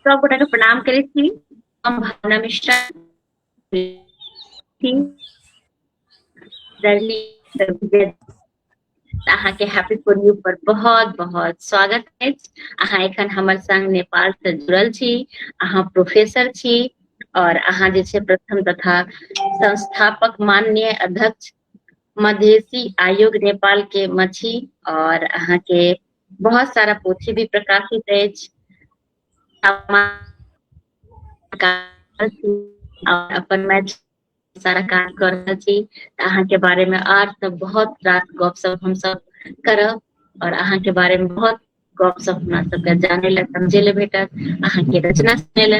सब गोटा के प्रणाम करे छी हम भावना मिश्रा अहा के हैप्पी फॉर यू पर बहुत बहुत स्वागत है अहा एखन हमर संग नेपाल से जुड़ल छी अहा प्रोफेसर छी और अहा जे छे प्रथम तथा संस्थापक माननीय अध्यक्ष मधेसी आयोग नेपाल के मछी और अहा के बहुत सारा पोथी भी प्रकाशित अछि अपन मैच सारा काज कर रहल छी अहाँ के बारे में आर सब बहुत रास गप सब हम सब करब और अहाँ के बारे में बहुत गप सब हमरा सबके जाने ला समझे ला भेटत अहाँ के रचना सुने ला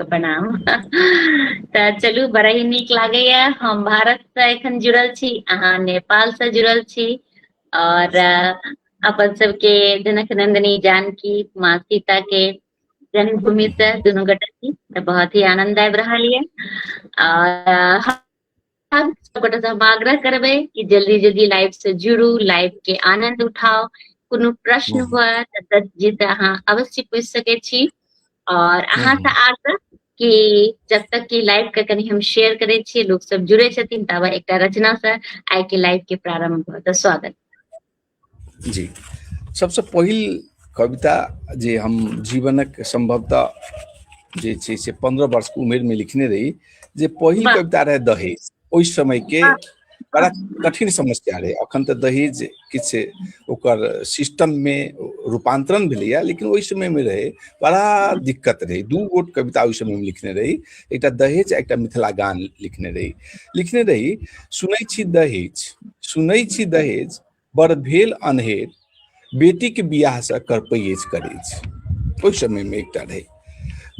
के प्रणाम तऽ चलू बड़ा ही नीक लागैया हम भारत से एखन जुड़ल छी अहाँ नेपाल से जुड़ल छी और अपन सबके जनक नंदिनी जानकी माँ सीता के जन्मभूमि से दुनू गोटा छी तऽ बहुत ही आनंद आबि रहल ये और हम सबगोटा से हम आग्रह करबे कि जल्दी जल्दी लाइव से जुड़ू लाइव के आनंद उठाओ कोनो प्रश्न हम्म। हुआ तऽ दत्त जी से अहाँ अवश्य पूछ सके छी और अहाँ से हम्म। आग्रह कि जब तक कि लाइव के कनी हम शेयर करे छियै लोग सब जुड़े छथिन ताबे एकटा रचना से आइ के लाइव के प्रारंभ हुआ तऽ स्वागत जी सभसँ पहिल कविता जे हम जीवनक सम्भवतः जे छै से पन्द्रह वर्षके उमेरमे लिखने रही जे पहिल कविता रहै दहेज ओहि समयके बड़ा कठिन समस्या रहै अखन तऽ दहेज किछु ओकर सिस्टममे रूपान्तरण भेलैए लेकिन ओहि समयमे रहै बड़ा दिक्कत रहै दू गोट कविता ओहि समयमे लिखने रही एकटा दहेज एकटा मिथिला गान लिखने रही लिखने रही सुनै छी दहेज सुनै छी दहेज बड़ भेल अन्हेर बेटीके बियाहसँ करपैज करै छै ओहि समयमे एकटा रहै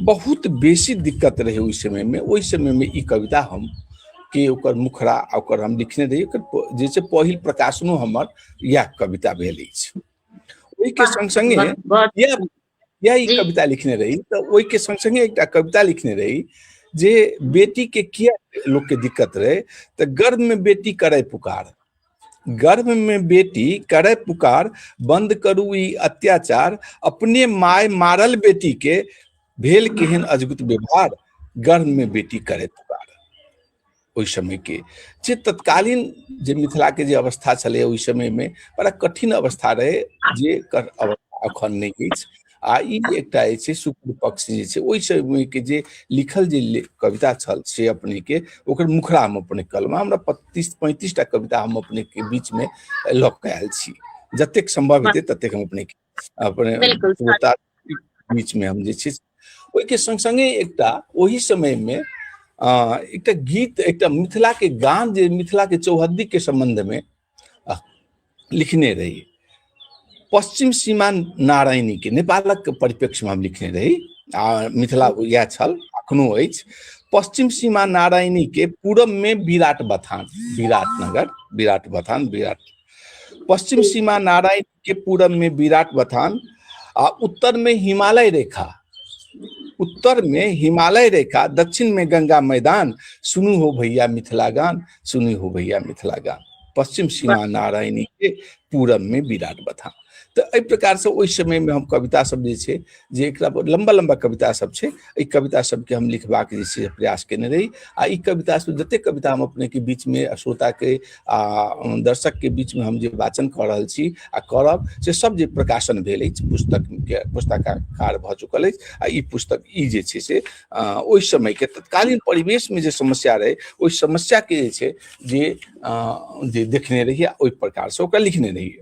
बहुत बेसी दिक्कत रहै ओहि समयमे ओहि समयमे ई कविता हम के ओकर मुखरा ओकर हम लिखने रही ओकर जे छै पहिल प्रकाशनो हमर इएह कविता भेल अछि ओहिके संग संगे या ई कविता लिखने रही तऽ ओहिके संग संगे एकटा कविता लिखने रही जे बेटी के किया लोग के दिक्कत रहे तऽ गर्भ में बेटी करे पुकार गर्भ में बेटी करे पुकार बंद करू ई अत्याचार अपने माय मारल बेटी के भेल केहन अजगुत व्यवहार गर्भ में बेटी करे पुकार ओहि समयके जे तत्कालीन जे मिथिलाके जे अवस्था छलै ओहि समयमे बड़ा कठिन अवस्था रहै जे अवस्था अखन नहि अछि आ ई एकटा जे छै शुक्ल पक्ष जे छै ओहि समयके जे लिखल जे कविता छल से अपनेके ओकर मुखरा हम अपने कहलहुँ हमरा पच्चीस पैंतीस टा कविता हम अपनेके बीचमे लऽ कऽ आयल छी जतेक सम्भव हेतै ततेक हम अपनेके अपने बीच में हम जे छै ओहिके संग संगे एकटा ओहि समय में एकटा गीत एकटा मिथिला के गान जे मिथिला के चौहद्दी के संबंध में लिखने रही पश्चिम सीमा नारायणी के नेपालक परिप्रेक्ष्य में हम लिखने रही आ मिथिला यह छल अखनो अछि पश्चिम सीमा नारायणी के पूरब में विराट बथान विराट नगर विराट बथान विराट पश्चिम सीमा नारायणी के पूरब में विराट बथान आ उत्तर में हिमालय रेखा उत्तर में हिमालय रेखा दक्षिण में गंगा मैदान सुनू हो भैया मिथिला गान सुनू हो भैया मिथिला गान पश्चिम सीमा नारायणी के पूरब में विराट बथान तो एहि प्रकार से ओहि समय में हम कविता सब जे छै जे एकरा पर लंबा लंबा कविता सब छै एहि कविता सबके हम लिखबाक जे छै से प्रयास केने रही आ ई कविता सब जते कविता हम अपने के बीच में आ श्रोता के आ दर्शक के बीच में हम जे वाचन कर रहल छी आ करब से सब जे प्रकाशन भेल अछि पुस्तक के पुस्तकाकार भऽ चुकल अछि आ ई पुस्तक ई जे छै से अ, ओहि समय के तत्कालीन परिवेश में जे समस्या रहे ओहि समस्या के जे छै जे अ, जे देखने रहिए आ ओहि प्रकार से ओकरा लिखने रहिए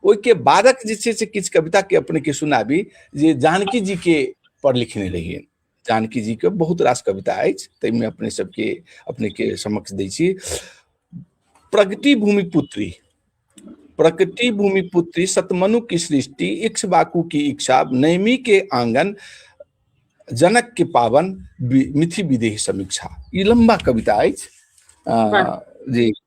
ओहिके बादक जे छै से किछु कविता के अपने के सुनाबी जे जानकी जी के पर लिखने रहिए जानकी जी के बहुत रास कविता अछि ताहिमे अपने सबके अपने के समक्ष दै छी प्रगति भूमि पुत्री प्रकृति भूमि पुत्री सतमनु की सृष्टि इक्ष बाकू की इच्छा नैमी के आंगन जनक के पावन मिथि विदेह समीक्षा ई लंबा कविता अछि जी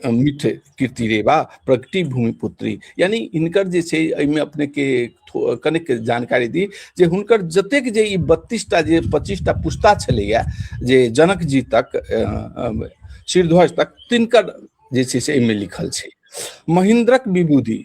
मिठ कीर्ति रेवा प्रगति भूमि पुत्री यानी इनकर जे छै एहिमे अपने के कनेक जानकारी दी जे हुनकर जतेक जे ई बत्तीसटा जे पच्चीसटा पुस्ता छलैया जे जनक जी तक श्रीध्वज तक तिनकर जे छै से एहिमे लिखल छै महेंद्रक विभूति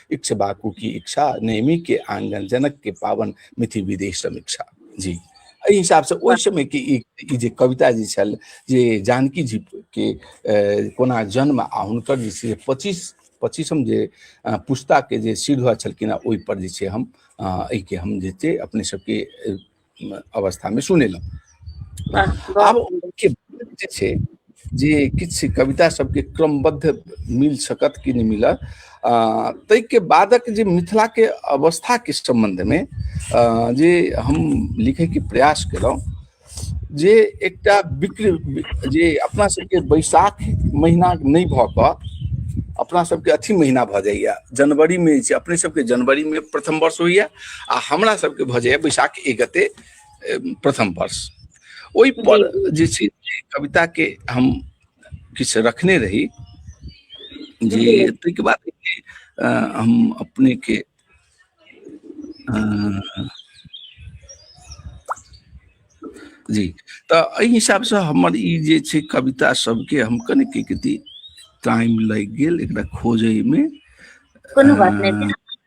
इक्ष बाकू की इच्छा नेमी के आंगन जनक के पावन मिथि विदेश समीक्षा जी एहि हिसाब से ओहि समय के ई जे कविता जे छल जे जानकी जी के कोना जन्म आ हुनकर जे छै पच्चीस पच्चीसम जे पुस्ता के जे सिर छलखिन ओहि पर जे छै हम एहिके हम जे छै अपने सबके अवस्थामे सुनेलहुँ आब के जे छै जे किछु कविता सबके क्रमबद्ध मिल सकत कि नहि मिलत ताहिके बादक जे मिथिलाके अवस्थाके सम्बन्धमे जे हम लिखैके प्रयास केलहुँ जे एकटा विक्र जे अपना सबके बैसाख महीना नहि भऽ कऽ अपना सबके अथी महीना भऽ जाइए जनवरीमे जे छै अपने सबके जनवरीमे प्रथम वर्ष होइए आ हमरा सबके भऽ जाइए बैसाख एक गते प्रथम वर्ष ओहिपर जे छै कविताके हम किछु रखने रही जे ताहिके बाद हम अपनेके जी तऽ एहि हिसाबसँ हमर ई जे छै कविता सबके हम कने की कहती टाइम लागि गेल एकरा खोजैमे कोनो बात नहि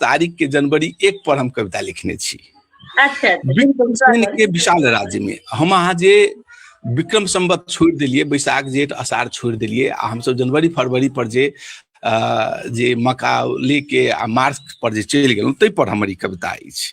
तारीख के जनवरी एक पर हम कविता लिखने छी अच्छा, अच्छा। के विशाल राज्य में हम अहाँ जे विक्रम संबत छोड़ दिलिए बैशाख जेठ अषाढ़ छोड़ दिलिए आ हम सब जनवरी फरवरी पर जे जे मका लेके आ मार्च पर जे चलि गेलहुँ ताहि पर हमर ई कविता अछि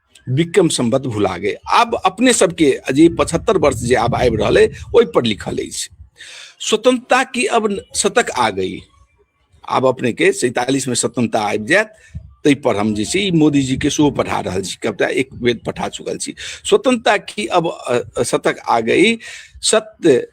विक्रम सम्बत भुला गए आब अपने सबके जे पचहत्तर वर्ष जे आब आबि रहल है ओहि पर लिखल है स्वतंत्रता की अब शतक आ गई आब अपने के सैतालीस में स्वतंत्रता आबि जायत ताहि पर हम जे छी मोदी जी के सेहो पठा रहल छी कविता एक बेर पठा चुकल छी स्वतंत्रता की अब शतक आ गई सत्य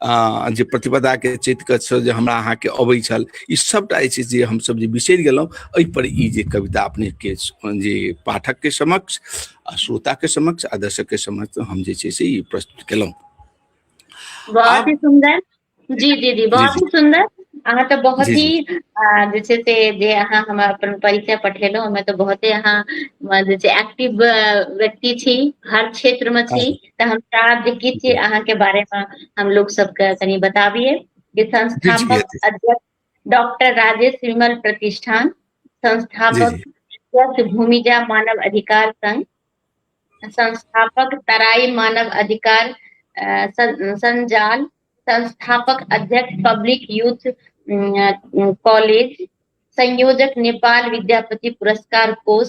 जे प्रतिपदाके चैतके छल जे हमरा अहाँके अबै छल ई सभटा जे छै जे हमसभ जे बिसरि गेलहुँ एहिपर ई जे कविता अपनेके जे पाठकके समक्ष आ श्रोताके समक्ष आ दर्शकके समक्ष हम जे छै से ई प्रस्तुत केलहुँ बहुत ही सुंदर जी जी जी बहुत ही सुंदर अहाँ तऽ बहुत ही जे छै से जे अहाँ हमरा अपन परिचय पठेलहुँ ओहिमे तऽ बहुते अहाँ जे छै एक्टिव व्यक्ति छी हर क्षेत्रमे छी तऽ हम चाहब जे किछु जी अहाँके बारेमे हम लोग सबके कनि बताबिए जे जी जी संस्थापक जी अध्यक्ष डॉक्टर राजेश विमल प्रतिष्ठान जी संस्थापक जी अध्यक्ष भूमिजा मानव अधिकार संघ संस्थापक तराई मानव अधिकार अ, सं- संजाल संस्थापक अध्यक्ष पब्लिक यूथ अम, कॉलेज संयोजक नेपाल विद्यापति पुरस्कार कोष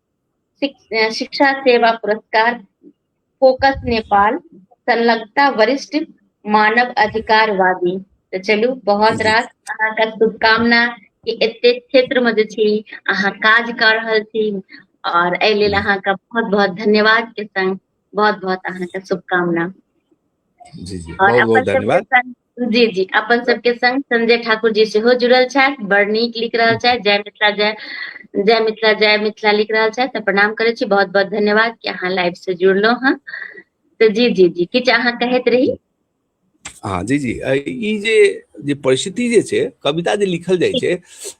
शिक्षा सेवा पुरस्कार फोकस नेपाल संलग्नता वरिष्ठ मानव अधिकारवादी तऽ चलू बहुत रास अहाँके शुभकामना कि एते क्षेत्र में जे छी अहाँ काज कर रहल छी और एहि लेल अहाँके बहुत बहुत धन्यवाद के संग बहुत बहुत अहाँके शुभकामना जी जी बहुत बहुत धन्यवाद जी जी अपन सबके संग संजय ठाकुर जी सेहो जुड़ल छथि बड़ नीक लिख रहल छथि जय मिथिला जय जय मिथिला जय मिथिला लिख रहल छथि तऽ प्रणाम करै छी बहुत बहुत धन्यवाद कि अहाँ लाइव से जुड़लहुँ हँ तऽ जी जी जी किछु अहाँ कहैत रही हाँ जी जी ई जे जे परिस्थिति जे छै कविता जे लिखल जाइ छै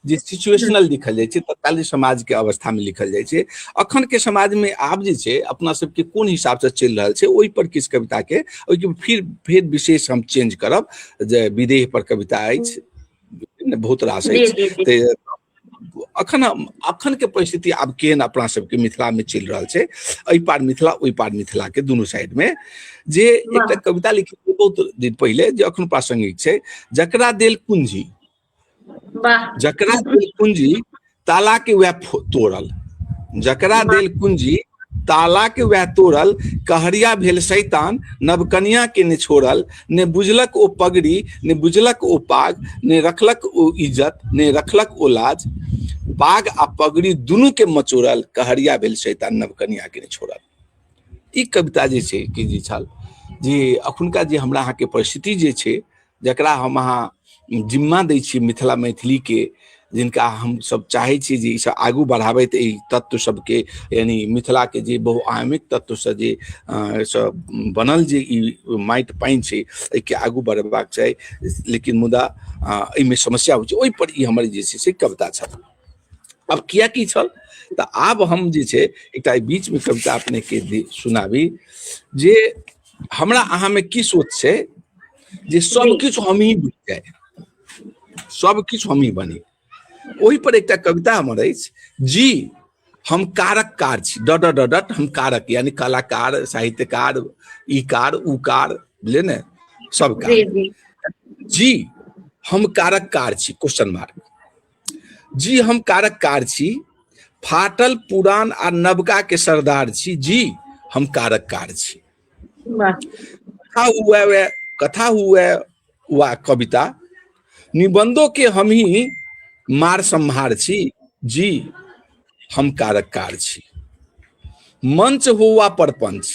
जे सिचुएशनल लिखल जाइ छै तत्कालीन समाज के अवस्था में लिखल जाइ छै अखन के समाज में आब जे छै अपना सब के कोन हिसाब से चलि रहल छै ओहि पर किछु कविता के ओहि के फिर फिर विशेष हम चेंज करब जे विदेह पर कविता अछि बहुत रास जी अछि जी जी ते अखन हम- अखन के परिस्थिति आब केहन अपना सबके मिथिला में चलि रहल छै एहि पार मिथिला ओहि पार मिथिला के दुनू साइड में जे एकटा कविता लिखी बहुत दिन पहिले जे अखन प्रासंगिक छै जकरा देल कुंजी जकरा दिल कुंजी ताला के वह तोड़ल जकरा दिल कुंजी ताला के वह तोड़ल कहरिया भेल शैतान नवकनिया के ने छोड़ल ने बुझलक ओ पगड़ी ने बुझलक ओ पाग ने रखलक ओ इज्जत ने रखलक ओ लाज पाग आ पगड़ी दुनू के मचोड़ल कहरिया भेल शैतान नवकनिया के ने छोड़ल ई कविता जे छै कि जे छल जे अखुनका जे हमरा अहाँके परिस्थिति जे छै जकरा हम अहाँ जिम्मा दै छियै मिथिला मैथिलीके जिनका हम सब चाहे छी जे सब आगू बढ़ाबैत एहि तत्व सबके यानी मिथिला के जे बहुआयामिक तत्व से जे सब बनल जे ई माटि पानि छै एहिके आगू बढ़ेबाक चाही लेकिन मुदा एहिमे समस्या होइ छै ओहिपर ई हमर जे छै से कविता छल अब किया की छल तऽ आब हम जे छै एकटा बीच में कविता अपने के सुनाबी जे हमरा अहा में की सोच छै जे सब किछु हम ही बुझ जाए सब किछु हम ही बनी ओहि पर एकटा कविता हमर अछि जी हम कारक कार छी डट डट डट हम कारक यानी कलाकार साहित्यकार ई कार ऊ कार बुझलिए ने सब कार जी हम कारक कार छी क्वेश्चन मार्क जी हम कारक कार छी फाटल पुरान आ नवका के सरदार छी जी हम कारक कार छी कथा हुआ वे कथा हुआ वा कविता निबंधों के हम ही मार संहार छी जी हम कारक कार छी मंच हो वा परपंच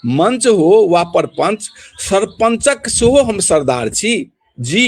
मंच हो वा परपंच सरपंचक सेहो हम सरदार छी जी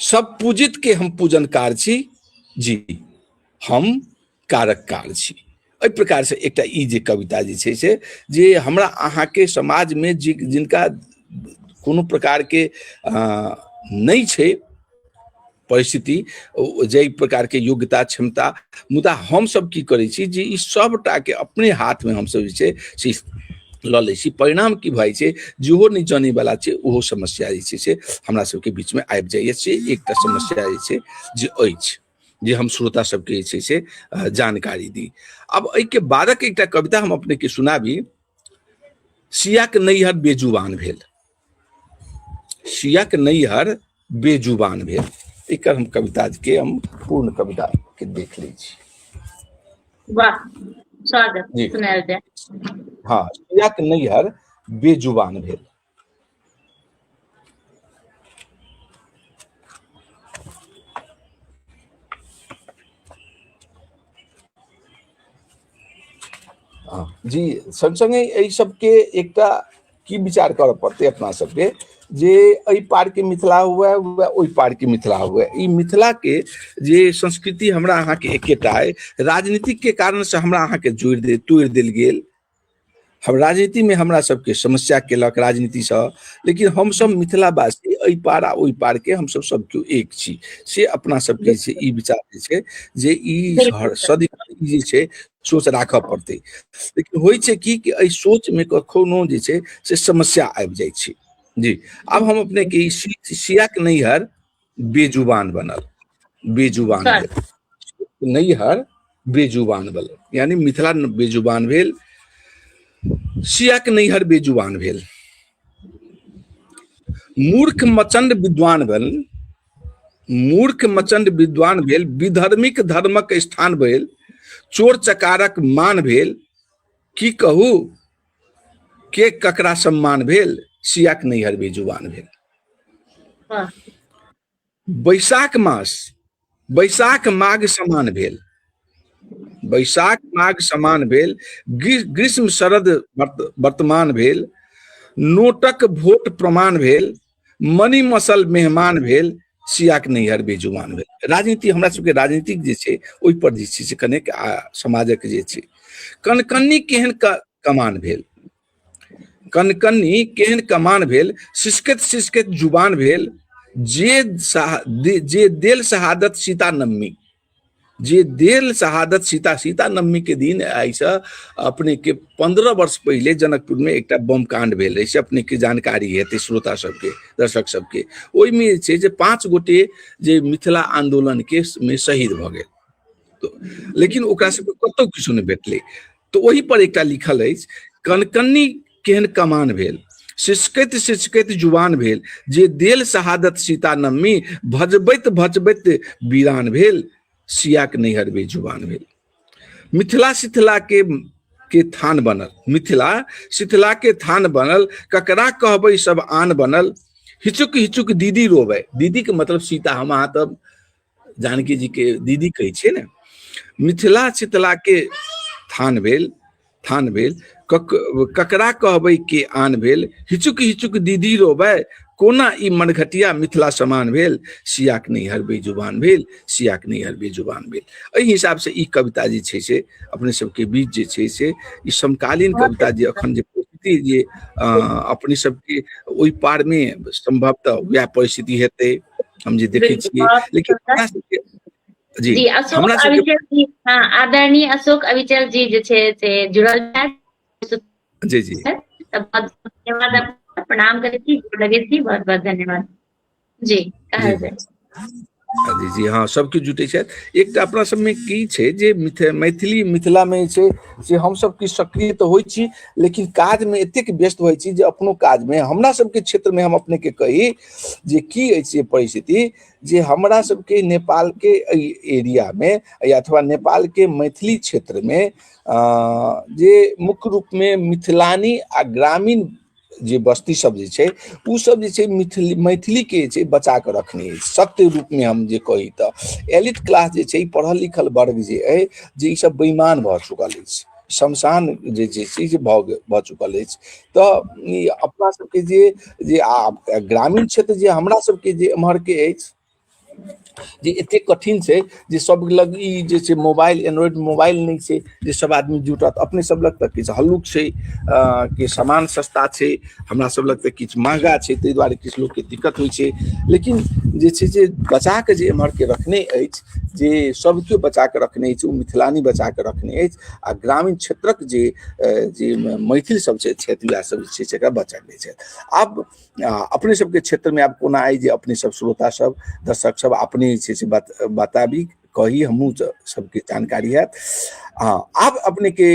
सब पूजित के हम पूजन कार छी जी हम कारक कार छी एहि प्रकार से एकटा ई जे कविता जे छै से जे हमरा अहाँके समाजमे जे जिनका कोनो प्रकारके नहि छै परिस्थिति जाहि प्रकारके योग्यता क्षमता मुदा हमसभ की करै छी जे ई सभटाके अपने हाथमे हमसभ जे छै से लऽ लै छी परिणाम की भऽ छै जेहो नहि जानैवला छै ओहो समस्या जे छै से हमरा सबके बीचमे आबि जाइए से एकटा समस्या जे छै जे अछि जे हम श्रोता सबके जे छै से जानकारी दी आब एहिके बादक एकटा कविता हम अपनेके सुनाबी सियाक नैहर बेजुबान भेल सियाक नैहर बेजुबान भेल एकर हम कविता के हम पूर्ण कविता के देख लै छी वाह स्वागत जी। सुनायल जाय हाँ सियाक नैहर बेजुबान भेल हाँ, जी संग संगे एहि सबके एकटा की विचार करऽ पड़तै अपना सबके जे एहि पारके मिथिला हुए हुए ओहि पारके मिथिला हुए ई मिथिलाके जे संस्कृति हमरा अहाँके एकेटा अइ राजनीतिकके कारणसँ हमरा अहाँके जोड़ि दे तोड़ि देल गेल हम राजनीतिमे हमरा सबके समस्या केलक राजनीतिसँ लेकिन हमसब मिथिलावासी एहि पार आ ओहि पारके हमसब सब केओ एक छी से अपना सबके जे छै ई विचार जे छै जे ई सदिखन ई जे छै सोच राखऽ पड़तै लेकिन होइ छै कि कि एहि सोचमे कखनो जे छै से समस्या आबि जाइ छै जी आब हम अपने के सियाक नैहर बेजुबान बनल बेजुबान नैहर बेजुबान बनल यानी मिथिला बेजुबान भेल सियाक नैहर बेजुबान भेल मूर्ख मचंड विद्वान बन मूर्ख मचंड विद्वान भेल विधर्मिक धर्मक स्थान भेल चोर चकारक मान भेल की कहू के ककरा सम्मान भेल सियाक नैहर भी जुबान भेल वाह बैशाख मास बैशाख माघ समान भेल बैशाख माघ समान भेल ग्री- ग्रीष्म शरद वर्त- वर्तमान भेल नोटक भोट प्रमाण भेल मनी मसल मेहमान भेल सियाक नैहर बेजुमान भेल राजनीति हमरा सबके राजनीतिक जे छै ओहि पर जे छै से कनेक समाजक जे छै कनकन्नी केहन कमान भेल कनकन्नी केहन कमान भेल सिसकत सिसकत जुबान भेल जे जे देल शहादत सीता नम्मी जे देल शहादत सीता सीता नवमी के दिन ऐसा अपने के पंद्रह वर्ष पहले जनकपुर में एक बम कांड भेल रहे अपने के जानकारी हेतु श्रोता सबके दर्शक सबके ओहिमे छै जे पाँच गोटे जे मिथिला आंदोलन के में शहीद भ गए तो लेकिन ओकरा सबके कतौ किछु नहि भेटलै तऽ ओहि पर एकटा लिखल अछि कनकन्नी केहन कमान भेल सिसकैत सिसकैत जुबान भेल जे देल शहादत सीता नम्मी भजबैत भजबैत वीरान भेल सियाक नैहर भी जुबान भेल मिथिला सिथला के के थान बनल मिथिला सिथला के थान बनल ककरा कहबै सब आन बनल हिचुक हिचुक दीदी रोवे दीदी के मतलब सीता हम अहाँ तब जानकी जी के दीदी कहे छे ने मिथिला चितला के थान भेल थान भेल कक, ककरा कहबे के आन भेल हिचुक हिचुक दीदी रोबे कोना ई मनघटिया मिथिला समान भेल सियाक नहीं हरबे जुबान भेल सियाक नहीं हरबे जुबान भेल एहि हिसाब से ई कविता जे छै से अपने सबके बीच जे छै से ई समकालीन कविता जे अखन जे परिस्थिति जे अपने सबके ओहि पार में संभवतः वह परिस्थिति हेतै हम जे देखै छियै लेकिन हमरा सबके जी जी अशोक हमरा सबके अविचल जी हाँ आदरणीय अशोक अविचल जी जे छै से जुड़ल छथि जी जी तऽ बहुत बहुत धन्यवाद आपका। प्रणाम करै छी गोर लगै छी बहुत बहुत धन्यवाद जी जी कहल जी जाय जी जी हाँ सबके जुटै छथि एकटा अपना सबमे की छै जे मिथ मैथिली मिथिलामे छै से हमसब की सक्रिय तऽ होइ छी लेकिन काजमे एतेक व्यस्त होइ छी जे अपनो काजमे हमरा सबके क्षेत्रमे हम अपनेके कही जे की अछि से परिस्थिति जे हमरा सबके नेपाल के एरिया में या अथवा नेपाल के मैथिली क्षेत्र में जे मुख्य रूप में मिथिलानी आ ग्रामीण जे बस्ती सब जे छै उ सब जे छै मिथिली मैथिली के जे छै बचा के रखने अछि सत्य रूप में हम जे कही तऽ एलिट क्लास जे छै पढ़ल लिखल वर्ग जे अछि जे ई सब बेईमान भऽ चुकल अछि शमशान जे छै से जे भऽ गेल भऽ चुकल अछि तऽ ई अपना सबके जे जे आ ग्रामीण क्षेत्र जे हमरा सबके जे एम्हरके अछि जे एतेक कठिन छै जे सब लग ई जे छै मोबाइल एंड्रॉइड मोबाइल नहि छै जे सब आदमी जुटत अपने सब लग तऽ किछु हल्लुक छै कि सामान सस्ता छै हमरा सब लग तऽ किछु महगा छै ताहि दुआरे किछु लोकके दिक्कत होइ छै लेकिन जे छै जे बचा कऽ जे एम्हरके रखने अछि जे सब केओ बचा कऽ रखने अछि ओ मिथिलानी बचा कऽ रखने अछि आ ग्रामीण क्षेत्रक जे जे मैथिल सब छै छथि वएह सब जे छै से एकरा बचा लै छथि आब अपने सबके क्षेत्रमे आब कोना अइ जे अपने सब श्रोता सब दर्शक सब अपने जे छै से बताबी कही हमहूँ सबके जानकारी हैत हँ आब अपनेके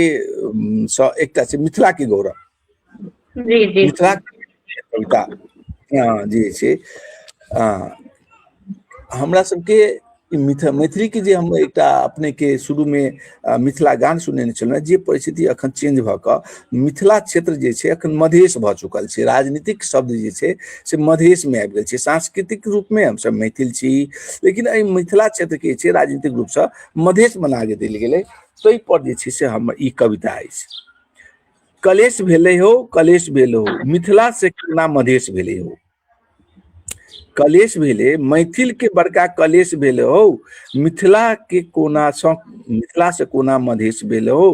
एकटा छै मिथिलाके गौरव जी जी कविता हँ जी छै हमरा सबके मिथ मैथिलीके जे हम एकटा अपनेके शुरूमे मिथिला गान सुनेने छलहुँ जे परिस्थिति अखन चेंज भऽ कऽ मिथिला क्षेत्र जे छै अखन मधेश भऽ चुकल छै राजनीतिक शब्द जे छै से मधेशमे आबि गेल छै सांस्कृतिक रूपमे हमसभ मैथिल छी लेकिन एहि मिथिला क्षेत्रके जे छै राजनीतिक रूपसँ मधेश बना देल गेलै ताहिपर जे छै से हमर ई कविता अछि कलेश भेले हो कलेश भेले हो मिथिला से केना मधेश भेले हो कलेश भेले मैथिल के बड़का कलेश भेले हो मिथिला के कोना सँ मिथिला से कोना मधेश भेले हो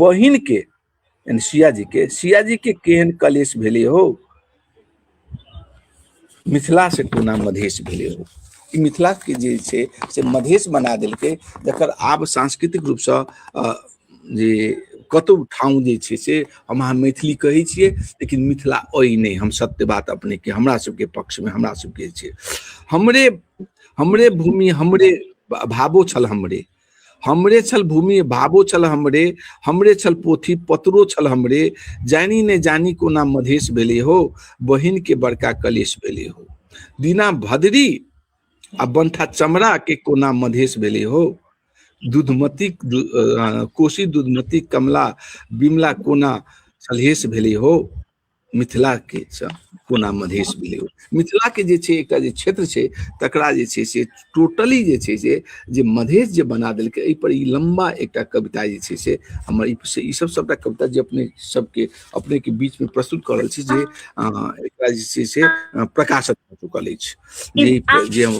बहिन के यानी सिया जी के सिया जी के केहन कलेश भेले हो मिथिला से कोना मधेश भेले हो ई मिथिला के जे छै से मधेश बना देलकै जकर आब सांस्कृतिक रूप से अ, जे कतौ ठाउँ जे छै से हम अहाँ मैथिली कहै छियै लेकिन मिथिला अइ नहि हम सत्य बात अपने के हमरा सबके पक्ष में हमरा सबके छै हमरे हमरे भूमि हमरे भावो छल हमरे हमरे छल भूमि भावो छल हमरे हमरे छल पोथी पत्रो छल हमरे जानी ने जानी कोना मधेश भेले हो बहिन के बड़का कलेश भेले हो दीना भदरी आ बंथा चमड़ा के कोना मधेश भेले हो दूधमती दु- अ, कोसी दूधमती कमला बिमला कोना सलहेश भेले हो मिथिलाके कोना मधेश भेलै ओ मिथिलाके जे छै एकटा जे क्षेत्र छै तकरा जे छै से टोटली जे छै से जे मधेश जे बना देलकै एहिपर ई लम्बा एकटा कविता जे छै से हमर ई से ईसभ सभटा कविता जे अपने सभके अपनेके बीचमे प्रस्तुत कऽ रहल छी जे एकरा जे छै से प्रकाशित भऽ चुकल अछि जे जे हम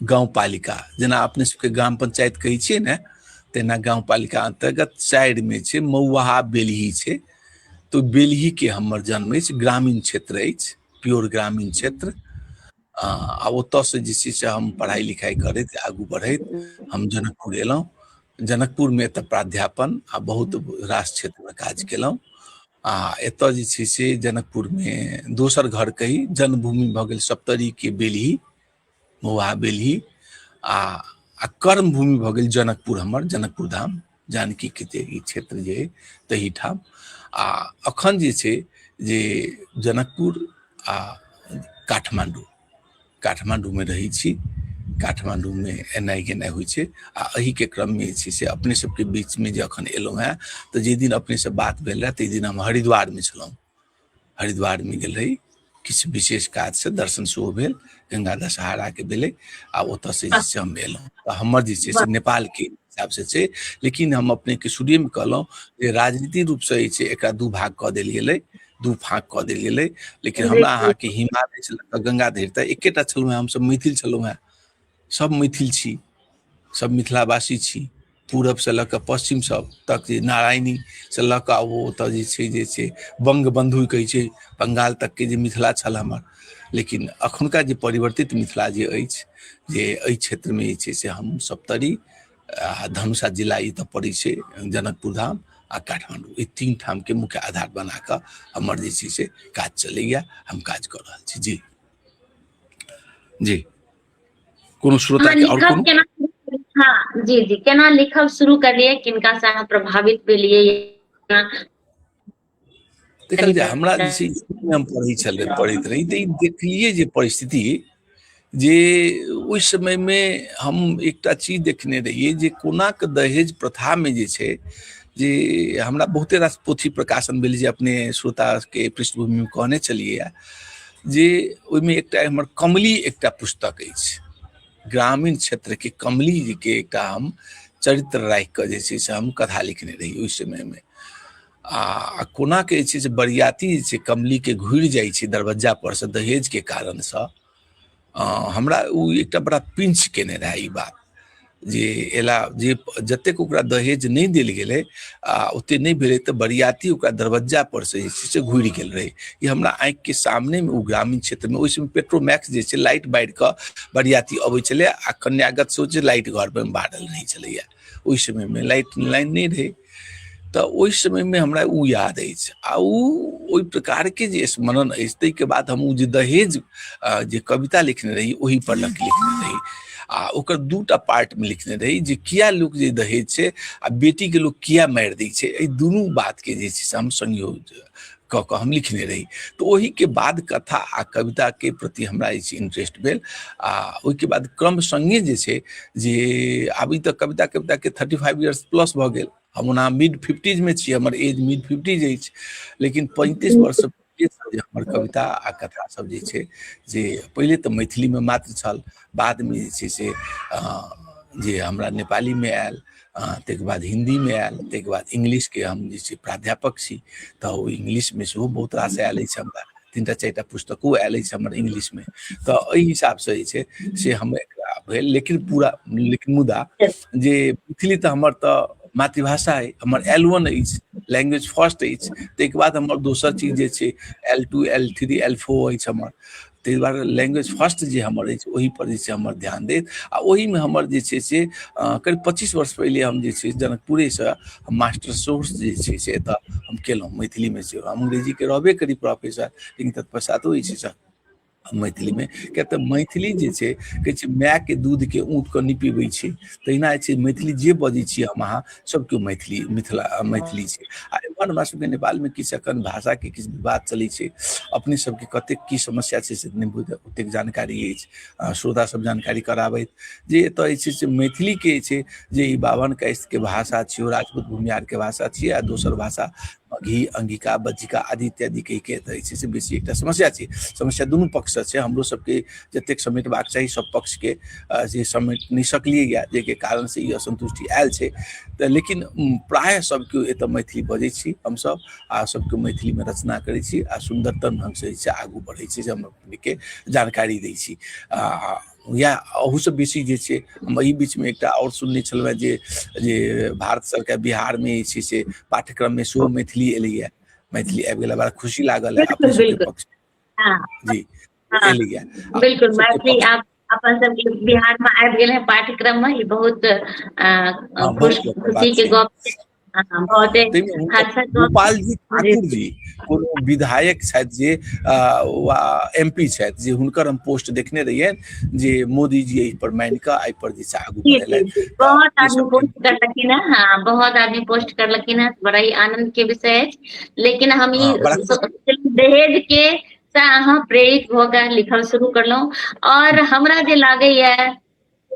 गाउँपालिका जेना अपने सबके ग्राम पंचायत कहै छियै ने तेना गाउँपालिका अन्तर्गत चारिमे छै मौवाहा बेलही छै तऽ बेलहीके हमर जन्म अछि ग्रामीण क्षेत्र अछि प्योर ग्रामीण क्षेत्र आ ओतऽसँ जे छै से हम पढ़ाइ लिखाइ करैत आगू बढ़ैत हम जनकपुर एलहुँ जनकपुरमे एतऽ प्राध्यापन आ बहुत रास क्षेत्रमे काज केलहुँ आ एतऽ जे छै से जनकपुरमे दोसर घर कही जन्मभूमि भऽ गेल सप्तरीके बेलही मौहा बेलही आ आ कर्म भूमि भऽ गेल जनकपुर हमर जनकपुर धाम जानकी के जे ई क्षेत्र जे अइ तही ठाम आ अखन जे छै जे जनकपुर आ काठमांडू काठमांडू में रही छी काठमांडू में एनाइ गेनाइ होइ छै आ एहि के क्रम में जे छै से अपने सबके बीच में जे अखन एलहुँ हेँ तऽ जाहि दिन अपने से बात भेल रहए ताहि दिन हम हरिद्वार में छलहुँ हरिद्वारमे गेल रही किछु विशेष काजसँ दर्शन सेहो भेल गंगा दशहराके भेलै आ ओतऽसँ जे छै हम एलहुँ तऽ हमर जे छै से नेपालके हिसाबसँ छै लेकिन हम अपनेके शुरुएमे कहलहुँ जे राजनीतिक रूपसँ जे छै एकरा दू भाग कऽ देल गेलै दू फाँक कऽ देल गेलै लेकिन हमरा अहाँके हिमालय छलहुँ गंगा धरि तऽ एकेटा छलहुँ हेँ हमसभ मैथिल छलहुँ हेँ सब मैथिल छी सब मिथिलावासी छी पूरब से लऽ कऽ पश्चिम सब तक जे नारायणी से लऽ कऽ ओ ओतऽ जे छै जे छै बंग बंधु कहै छै बंगाल तक के जे मिथिला छल हमर लेकिन अखुनका जे परिवर्तित मिथिला जे अछि जे एहि क्षेत्र में जे छै से हम सप्तरी आ धनुषा जिला ई तऽ पड़ै छै जनकपुर धाम आ काठमांडू ई तीन ठाम के मुख्य आधार बना कऽ हमर जे छै से काज चलैया हम काज कऽ रहल छी जी जी कोनो श्रोता हमरा के और लिखब कोनो केना हाँ जी जी केना लिखब शुरू करलियै किनका से अहाँ प्रभावित भेलियै केना देखल जाय हमरा जे छै स्कूल मे हम पढ़ै छलै पढ़ैत रही तऽ ई देखलियै जे परिस्थिति जे ओहि समय मे हम एकटा चीज देखने रहियै जे कोना के दहेज प्रथा मे जे छै जे हमरा बहुते रास पोथी प्रकाशन भेल जे अपने श्रोता के पृष्ठभूमि मे कहने छलियै जे ओहिमे एकटा हमर कमली एकटा पुस्तक अछि ग्रामीण क्षेत्रके कमली जीके एकटा हम चरित्र राखि कऽ जे छै से हम कथा लिखने रही ओहि समयमे आ कोना के जे छै से बरियाती जे छै कमलीके घुरि जाइ छै दरवज्जा पर से दहेजके कारणसँ हमरा ओ एकटा बड़ा पिंच केने रहए ई बात जे एला जे जतेक ओकरा दहेज नहि देल गेलै आ ओते नहि भेलै तऽ बरियाती ओकरा दरवज्जा पर से जे छै से घुरि गेल रहै ई हमरा आँखि के सामने मे ओ ग्रामीण क्षेत्र मे ओहि समय पेट्रोमैक्स जे छै लाइट बारि कऽ बरियाती अबै छलै आ कन्यागत से जे लाइट घर पर बारल रहै छलैया ओहि समय मे लाइट लाइन नहि रहै तऽ ओहि समयमे हमरा ओ याद अछि आ ओ ओहि प्रकारके जे स्मरण अछि ताहिके बाद हम ओ जे दहेज जे कविता लिखने रही ओहि पर लग लिखने रही आ ओकर दूटा पार्टमे लिखने रही जे किया लोक जे दहेज छै आ बेटीके लोक किया मारि दै छै एहि दुनू बातके जे छै से हम संयोग कऽ कऽ हम लिखने रही तऽ ओहिके बाद कथा आ कविताके प्रति हमरा जे छै इंटरेस्ट भेल आ ओहिके बाद क्रम सङ्गे जे छै जे आब ई तऽ कविता कविताके थर्टी फाइव ईयर्स प्लस भऽ गेल हम ओना मिड फिफ्टीजमे छी हमर एज मिड फिफ्टीज अछि लेकिन पैंतीस वर्ष जे हमर कविता आ कथा सब जे छै जे पहिले तऽ मैथिलीमे मात्र छल बादमे जे छै से जे हमरा नेपालीमे आयल ताहिके बाद हिन्दीमे आयल ताहिके बाद इंग्लिशके हम जे छै प्राध्यापक छी तऽ ओ इंग्लिशमे सेहो बहुत रास आयल अछि हमरा तीन टा चारि टा पुस्तको आयल अछि हमर इंग्लिशमे तऽ एहि हिसाबसँ जे छै से हम एकरा भेल लेकिन पूरा लेकिन मुदा जे मैथिली तऽ हमर तऽ मातृभाषा अइ हमर एल वन अछि लैंग्वेज फर्स्ट अछि ताहिके बाद हमर दोसर चीज जे छै L two L three L four अछि हमर ताहि दुआरे लैंग्वेज फर्स्ट जे हमर अछि ओहिपर जे छै हमर ध्यान देत आ ओहिमे हमर जे छै से करीब पच्चीस वर्ष पहिले हम जे छै जनकपुरेसँ मास्टर सोर्स जे छै से एतऽ हम केलहुँ मैथिलीमे से हम अंग्रेजीके रहबे करी प्रोफेसर लेकिन तत्पश्चातो जे छै से मैथिलीमे किया तऽ मैथिली जे छै कहै छै मायके दूधके ऊँटके नहि पीबै छै तहिना जे छै मैथिली जे बजै छी हम अहाँ सब केओ मैथिली मिथिला मैथिली छै आ एम्हर हमरा सबके नेपालमे किछु एखन भाषाके किछु विवाद चलै छै अपने सबके कतेक की समस्या छै से नहि बुझ ओतेक जानकारी अछि श्रोता सब जानकारी कराबैत जे एतऽ जे छै से मैथिलीके जे छै जे ई बाभन कास्टके भाषा छियौ राजपूत भूमिहारके भाषा छियै आ दोसर भाषा घी अंगिका बज्जिका आदि इत्यादि कहि के तऽ छै से बेसी एकटा समस्या छै समस्या दुनू पक्ष से छै हमरो सबके जतेक समेटबाक चाही सब पक्ष के जे समेट नहि सकलियै या जाहिके कारण से ई असन्तुष्टि आयल छै तऽ लेकिन प्रायः सब केओ एतऽ मैथिली बजै छी हमसब आ सबके मैथिली मे रचना करै छी आ सुन्दरतम ढंग से जे छै आगू बढ़ै छै जे हम अपने के जानकारी दै छी आ इएह अहूसँ बेसी जे छै हम एहि बीचमे एकटा आओर सुनने छलहुँ हेँ जे जे भारत सरकार बिहारमे जे छै से पाठ्यक्रममे सेहो मैथिली एलैए मैथिली आबि गेला बड़ा खुशी लागल है अपने सबके पक्ष हाँ। जी हाँ। एलैए बिल्कुल मैथिली आप अपन सबके बिहार में आबि गेल है पाठ्यक्रम में ई बहुत हाँ, खुशी के गप गोपाल जी ठाकुर जी कोनो विधायक छथि जे एम पी छथि जे हुनकर हम पोस्ट देखने रहिए जे मोदी जी एहि पर मानि कऽ एहि पर जे छै आगू बहुत आदमी पोस्ट करलखिन है हाँ बहुत आदमी पोस्ट करलखिन है बड़ा ही आनंद के विषय है लेकिन हम ई हाँ, दहेज के से अहाँ प्रेरित भऽ कऽ लिखल शुरू करलहुँ और हमरा जे लागैए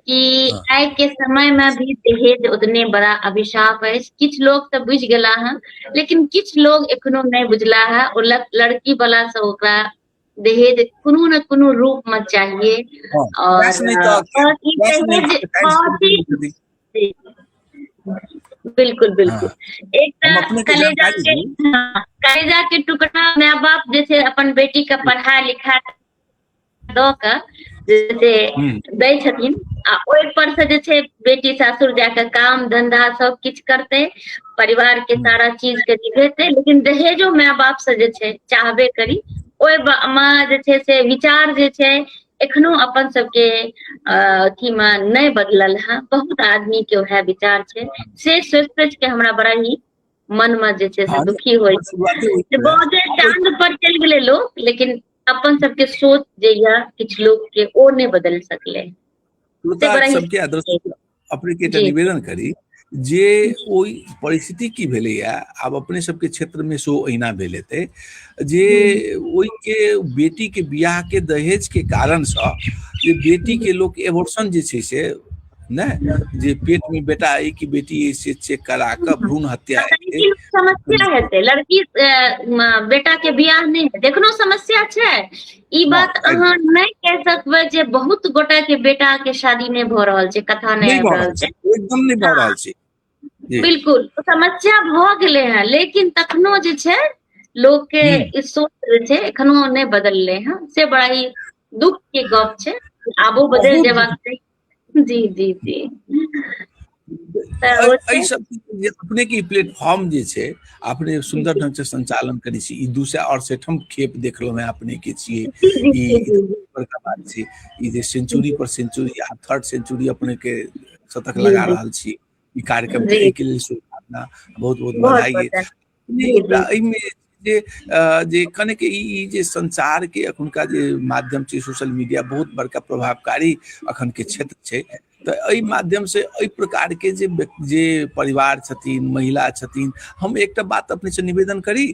कि आइ के समय मे भी दहेज उतने बड़ा अभिशाप अछि किछु लोग तऽ बुझि गेला हँ लेकिन किछु लोग एखनो नहि बुझला है ओ लड़की वाला से ओकरा दहेज कोनो ने कोनो रूप में चाहिए हाँ, और बिल्कुल बिल्कुल हाँ। एक कलेजा के हाँ, कलेजा के टुकड़ा माय बाप जैसे अपन बेटी का पढ़ा लिखा दऽ कऽ जे से हूँ दै छथिन आ ओहिपर से जे छै बेटी सासुर जा कऽ काम धंधा सब किछु करतै परिवार के सारा चीज के निभेतै लेकिन दहेजो माय बाप से जे छै चाहबे करी ओहि बा- मे जे छै से विचार जे छै एखनो अपन सबके अ, अथी मे नहि बदलल है बहुत आदमी के वएह विचार छै से सोचि सोचि के हमरा बड़ा ही मन मे जे छै से हाँ, दुखी होइ छै शुरुआती होइत जे है। बहुते चांद पर चलि गेलै लोग लेकिन अपन सबके सोच जे या किछु लोग के ओ ने बदल सकले सबके अपने के एकटा निवेदन करी जे ओहि परिस्थिति की भेले या आब अपने सबके क्षेत्र में सो अहिना भेल हेतै जे ओहि के बेटी के बियाह के दहेज के कारण से जे बेटी के लोग एबोर्शन जे छै से नहि जे पेट मे बेटा अ कि बेटी अ से चेक करा कऽ भ्रूण हत्या समस्या हेतै लड़की बेटा के बियाह नहि हेतै एखनो समस्या छै ई हँ बात एकदम अहाँ नहि क सकबै जे बहुत गोटा के बेटा के शादी नहि भऽ रहल छै कथा नहि आबि भऽ रहल छै एकदम नहि भऽ हँ रहल छै जी बिलकुल समस्या भऽ गेलै हेँ लेकिन तखनो जे छै लोकके हूँ ई सोच छै एखनो नहि बदललै हँ से बड़ा ही दुःख के गप छै आबो बदल बहुत जबाक बहुत चाही जी जी जी तऽ ओ छै एहिसभ जे अपने के ई प्लेटफॉर्म जे छै अपने जी सुन्दर जी ढंग से संचालन करै छी ई दू सए अड़सठम खेप देखलो में अपने के छियै जी जी ई जी जी बड़का बात छै ई जे जी सेंचुरी पर सेंचुरी आ थर्ड सेंचुरी अपने के शतक जी लगा जी रहल छी ई कार्यक्रम के जी एहिके लेल शुभकामना बहुत बहुत बधाई बहुत एहिमे जे जे कने के ई जे संसार के अखुनका जे माध्यम छै सोशल मीडिया बहुत बड़का प्रभावकारी अखन के क्षेत्र छै तऽ एहि माध्यम से एहि प्रकार के जे जे परिवार छथिन महिला छथिन हम एकटा बात अपने से निवेदन करी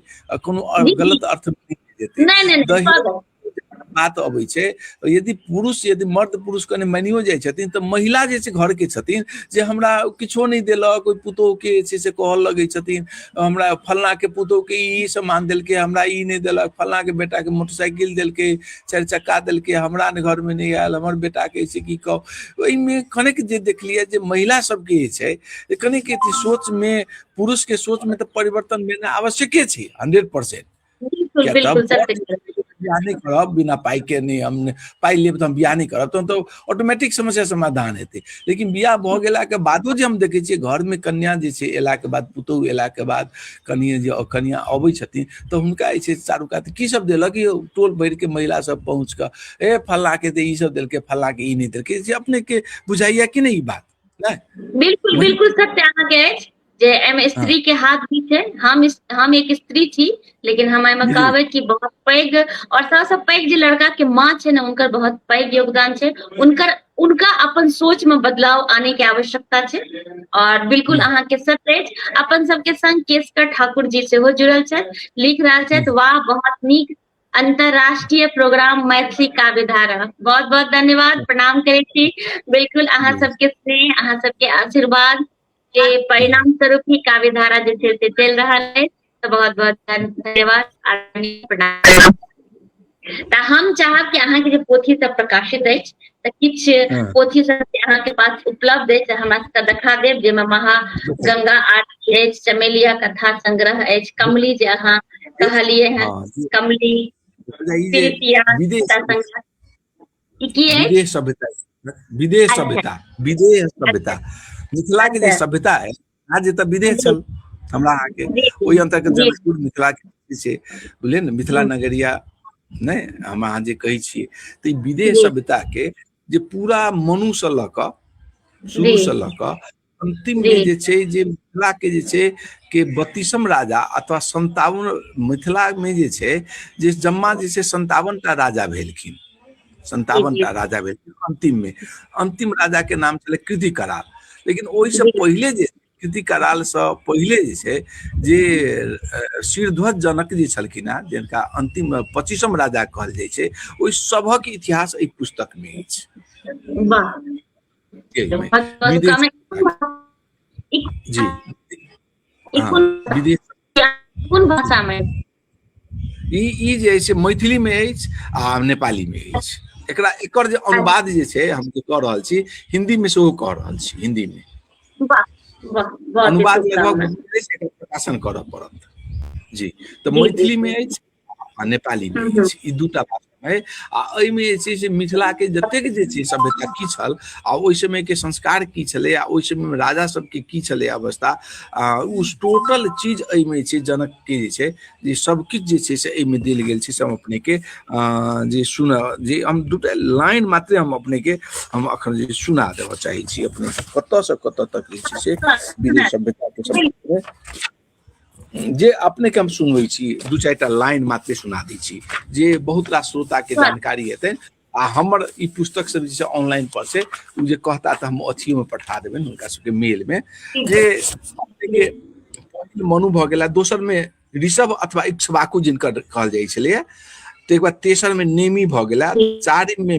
कोनो गलत अर्थ नहीं नहीं बात अबै छै यदि पुरुष यदि मर्द पुरुष कने मानियो जाइ छथिन तऽ महिला जे छै घरके छथिन जे हमरा किछो नहि देलक ओहि पुतोहके जे छै से कहऽ लगै छथिन हमरा फल्लाँके पुतोहके ई सामान देलकै हमरा ई नहि देलक फल्लाँके बेटाके मोटरसाइकिल देलकै चारि चक्का देलकै हमरा ने घरमे नहि आयल हमर बेटाके से की कहू ओहिमे कनेक जे देखलियै जे महिला सबके जे छै कनेक सोचमे पुरुषके सोचमे तऽ परिवर्तन भेनाइ आवश्यके छै हन्ड्रेड पर्सेन्ट बिल्कुल बिल्कुल सर बियाह नहि करब बिना पाई के नहि हम पाई लेब तऽ हम बियाह नहि करब तहन तऽ ऑटोमेटिक समस्या समाधान हेतै लेकिन बियाह भऽ गेलाके बादो जे हम देखै छियै घरमे कन्या जे छै एलाके बाद पुतोहु एलाके बाद कनिए जे कनिया अबै छथिन तऽ हुनका जे छै चारू कात की सब देलक यौ टोल भरिके महिला सब पहुँच कऽ ए फल्लाके तऽ ई सब देलकै फल्लाके ई नहि देलकै जे अपनेके बुझाइया कि नहि ई बात बिल्कुल बिल्कुल सत्य अहाँके अछि जे एहिमे हाँ। स्त्री के हाथ भी छै हम हम एक स्त्री छी लेकिन हम एहिमे कहबै कि बहुत पैघ और सबसँ पैघ जे लड़का के माँ छै ने उनकर बहुत पैघ योगदान छै उनकर उनका अपन सोच में बदलाव आने के आवश्यकता छै और बिल्कुल हाँ। अहाँ के सत अछि अपन सबके संग केसकर ठाकुर जी सेहो जुड़ल छथि लिख रहल छथि हाँ। वाह बहुत नीक अंतरराष्ट्रीय प्रोग्राम मैथिली काव्य धारा बहुत बहुत धन्यवाद प्रणाम करे छी बिल्कुल अहाँ सबके स्नेह अहाँ सबके आशीर्वाद के परिणाम स्वरूप ही काव्य धारा जे छै से चलि रहल अछि तऽ बहुत बहुत धन्यवाद प्रणाम तऽ हम चाहब कि अहाँके जे पोथी सब प्रकाशित अछि तऽ किछु हाँ। पोथी सब अहाँके पास उपलब्ध अछि हमरा सबके देखा देब जाहिमे महा गंगा आरती अछि चमेलिया कथा संग्रह अछि कमली जे अहाँ कहलिए हैं हाँ, कमली ई की अछि विदेह सभ्यता विदेह अच्छा। सभ्यता विदेह सभ्यता मिथिला के जे अच्छा। सभ्यता है आज तऽ विदेह छल हमरा अहाँके जी, जी, ओहि अंतर्गत जी। जनकपुर मिथिला के जे छै बुझलियै ने मिथिला नगरिया नहि हम अहाँ जे कहै छियै तऽ ई विदेह जी। सभ्यता के जे पूरा मनु से लऽ कऽ शुरू जी। से लऽ कऽ अंतिम में जी। जे छै जे मिथिला के जे छै के बत्तीसम राजा अथवा संतावन मिथिला में जे छै जे जम्मा जे छै संतावन टा राजा भेलखिन संतावन टा राजा भेलखिन अंतिम में अंतिम राजा के नाम छलै कृति कराल लेकिन ओहि से जी। पहिले जे कृति कराल से पहिले जे छै जे अ, शिरध्वज जनक जे छलखिन हेँ जिनका अंतिम पच्चीसम राजा कहल जाइ छै ओहि सभक इतिहास एहि पुस्तक में अछि वाह कोन भाषामे ई ई जे अछि मैथिलीमे अछि आ नेपालीमे अछि एकरा एकर जे अनुवाद जे छै हम जे कऽ रहल छी हिन्दीमे सेहो कऽ रहल छी हिन्दीमे अनुवाद लगभग प्रकाशन करऽ पड़त जी तऽ मैथिलीमे अछि आ नेपाली मे जे छै ई दूटा भाषा है आ एहिमे जे छै से मिथिलाके जतेक जे छै सभ्यता की छल आ ओहि समयके संस्कार की छलै आ ओहि समयमे राजा सबके की छलै अवस्था आ ओ टोटल चीज एहिमे छै जनकके जे छै जे सबकिछु जे छै से एहिमे देल गेल छै से हम अपनेके जे सुन जे हम दूटा लाइन मात्रे हम अपनेके हम अखन जे सुना देबऽ चाहै छी अपने कतऽसँ कतऽ तक जे छै से विदेश सभ्यताके सम्बन्धमे जे अपने के हम सुनवे छी दू चार टा लाइन मात्र सुना दी छी जे बहुत रास श्रोता के हाँ। जानकारी हेतै आ हमर ई पुस्तक सब जे ऑनलाइन पर से उ जे कहता त हम अथियो में पठा देबे उनका सबके मेल में जे के पहिल मनु भ गेला दोसर में ऋषभ अथवा इक्ष्वाकु जिनकर कहल जाइ छलै तो एक बार तेसर में नेमी भ गेला चारिम में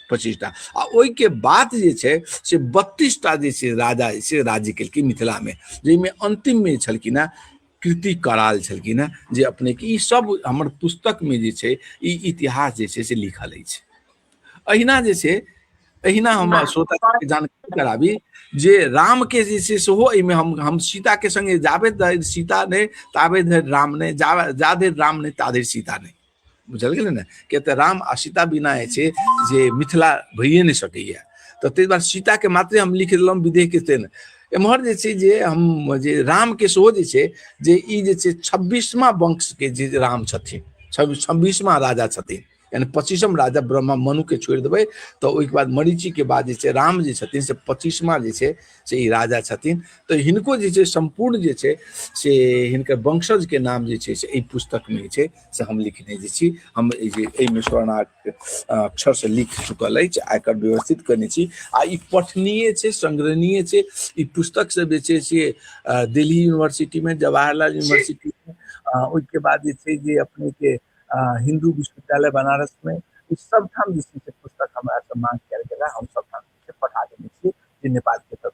पच्चीसटा आ ओहिके बाद जे छै से बत्तीसटा जे छै राजा जे छै राज्य केलखिन मिथिलामे जाहिमे अन्तिममे छलखिन हेँ कृति कराल छलखिन हेँ जे अपनेके ई सब हमर पुस्तकमे जे छै ई इतिहास जे छै से लिखल अछि अहिना जे छै अहिना हम श्रोताके जानकारी कराबी जे रामके जे छै सेहो एहिमे हम हम सीताके सङ्गे जाबे धरि सीता नहि ताबे धरि राम नहि जा जा धरि राम नहि ता धरि सीता नहि बुझल गेलै ने किया तऽ राम आ सीता बिना जे छै जे मिथिला भइए नहि सकैए तऽ ताहि दुआरे सीताके मात्रे हम लिख देलहुँ विदेहके से ने एम्हर जे छै जे हम जे रामके सेहो जे छै जे ई जे छै छब्बीसमा वंशके जे राम छथिन छब्बीसमा राजा छथिन यानी पच्चीसम राजा ब्रह्मा मनुके छोड़ि देबै तऽ ओहिके बाद मरीचिके बाद जे छै राम जे छथिन से पच्चीसमा जे छै से ई राजा छथिन तऽ हिनको जे छै सम्पूर्ण जे छै से हिनकर वंशजके नाम जे छै से एहि पुस्तकमे छै से हम लिखने जे छी हम जे एहिमे स्वर्णाक अक्षर से लिख चुकल अछि आ एकर व्यवस्थित करने छी आ ई पठनीय छै संग्रहणीय छै ई पुस्तक सब जे छै से दिल्ली यूनिवर्सिटीमे जवाहरलाल यूनिवर्सिटीमे ओहिके बाद जे छै जे अपनेके हिन्दू विश्वविद्यालय बनारसमे ई सब ठाम जे छै से पुस्तक हमरा सब मांग कयल गेला हम सब ठाम पठा देने छी जे नेपालके तरफ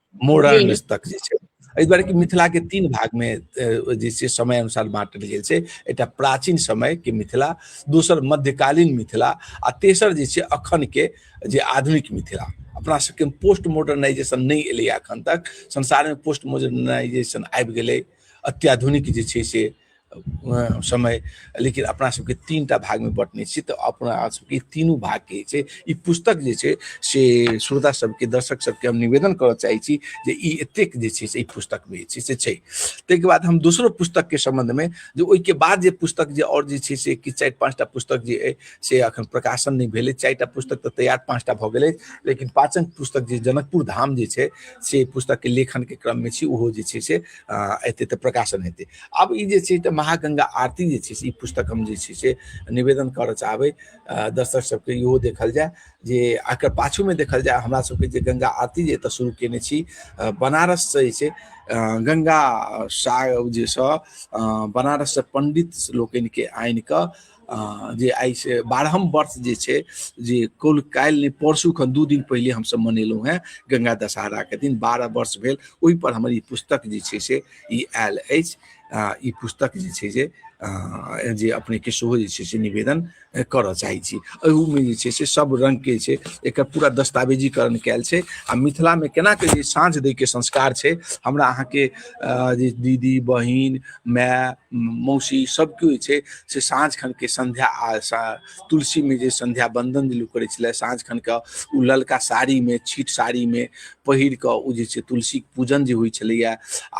मोरन तक जे छै एहि दुआरे कि मिथिलाके तीन भागमे जे छै समय अनुसार बाँटल गेल छै एकटा प्राचीन समयके मिथिला दोसर मध्यकालीन मिथिला आ तेसर जे छै अखनके जे आधुनिक मिथिला अपना सबके पोस्ट मॉडर्नाइजेशन नहि एलै एखन तक संसारमे पोस्ट मॉडर्नाइजेशन आबि गेलै अत्याधुनिक जे छै से समय लेकिन अपना सबके तीन टा भागमे बटने छी तऽ अपना सबके तीनू भागके छै ई पुस्तक जे छै से श्रोता सबके दर्शक सबके हम निवेदन करऽ चाहै छी जे ई एतेक जे छै से ई पुस्तकमे जे छै से छै ताहिके बाद हम दोसरो पुस्तकके सम्बन्धमे जे ओहिके बाद जे पुस्तक जे आओर जे छै से किछु चारि पाँचटा पुस्तक जे अइ से एखन प्रकाशन नहि भेलै चारिटा पुस्तक तऽ तैयार पाँचटा भऽ गेलै लेकिन पाँचम पुस्तक जे जनकपुर धाम जे छै से पुस्तकके लेखनके क्रममे छी ओहो जे छै से एतै तऽ प्रकाशन हेतै आब ई जे छै तऽ महागङ्गा आरती जे छै से ई पुस्तक हम जे छै से निवेदन करऽ चाहबै दर्शक सबके इहो देखल जाय जे एकर पाछूमे देखल जाय हमरा सबके जे गङ्गा आरती जे एतऽ शुरू केने छी बनारससँ जे छै गङ्गा साग जे सँ बनारससँ पण्डित लोकनिके आनि कऽ जे आइ से बारहम वर्ष जे छै जे कुल काल्हि नहि परसूखन दू दिन पहिले हमसभ मनेलहुँ हेँ गङ्गा दशहराके दिन बारह वर्ष भेल ओहिपर हमर ई पुस्तक जे छै से ई आयल अछि ई पुस्तक जे छै से जे अपनेके सेहो जे छै से निवेदन करऽ चाहै छी एहूमे जे छै से सब रङ्गके छै एकर पूरा दस्तावेजीकरण कयल छै आ मिथिलामे केना कऽ जे साँझ दैके संस्कार छै हमरा अहाँके जे दीदी बहिन माय मौसी सब केओ छै से साँझ खन के संध्या आ तुलसी में जे संध्या बंदन जे लोग करे छले साँझ खन के ओ ललका साड़ी में छीट साड़ी में पहिर के ओ जे छै तुलसी पूजन जे होइ छलैया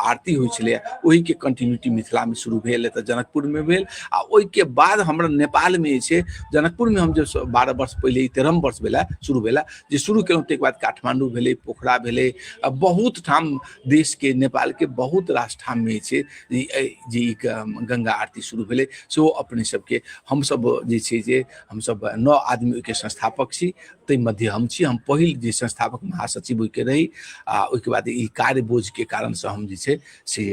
आरती होइ छलैया ओहि के कंटिन्यूटी मिथिला में शुरू भेल एतऽ जनकपुर में भेल आ ओहि के बाद हमरा नेपाल में जे छै जनकपुर में हम जे बारह वर्ष पहले तेरह वर्ष भेला शुरू भेला जे शुरू केलहुँ ताहिके बाद काठमांडू भेलै पोखरा भेलै बहुत ठाम देश के नेपाल के बहुत रास ठाम में जे जे गंगा आरती शुरू भेलै सेहो अपने सबके हमसब जे छै जे हमसब नौ आदमी ओहिके संस्थापक छी ताहि मध्य हम छी हम पहिल जे संस्थापक महासचिव ओहिके रही आ ओहिके बाद ई कार्य बोझ के कारण से हम जे छै से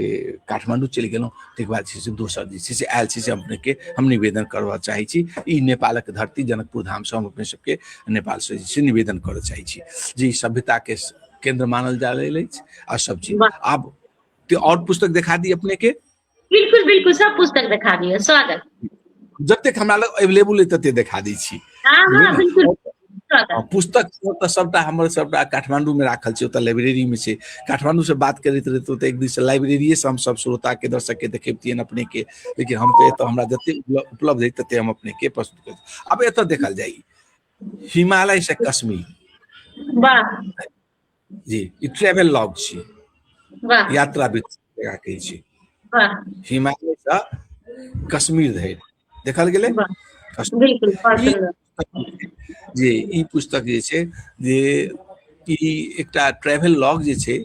काठमांडू चलि गेलहुँ ताहिके बाद छै से दोसर जे छै से आयल छी से अपने के हम निवेदन करबा चाहै छी ई नेपालक धरती जनकपुर धाम से हम अपने सबके नेपाल से जे छै निवेदन करऽ चाहै छी जे ई सभ्यता के केंद्र मानल जा रहल अछि आ सब चीज वाह। आब ते और पुस्तक देखा दी अपने के बिल्कुल बिल्कुल सब पुस्तक दिखा दियो स्वागत जतेक हमरा लग अवेलेबल अइ तते देखा दै छी हाँ हाँ बुझलियै? बिल्कुल आ स्वागत पुस्तक सब तऽ सबटा हमर सबटा काठमांडू में राखल छै ओतऽ लाइब्रेरी में छै काठमांडू से बात करैत रहैत ओतऽ एक दिन से लाइब्रेरिये से हम सब श्रोता के दर्शक के देखेबतियन अपने के लेकिन हम तऽ एतऽ हमरा जते उपल- उपलब्ध है तते हम अपने के प्रस्तुत कर आब एतऽ देखल जाई हिमालय से कश्मीर जी ई ट्रेवल लॉग छी यात्रा जगह कहै छी हिमालय से कश्मीर धरि देखल गेलै जी ई पुस्तक जे छै जे ई एकटा ट्रेवल लॉग जे छै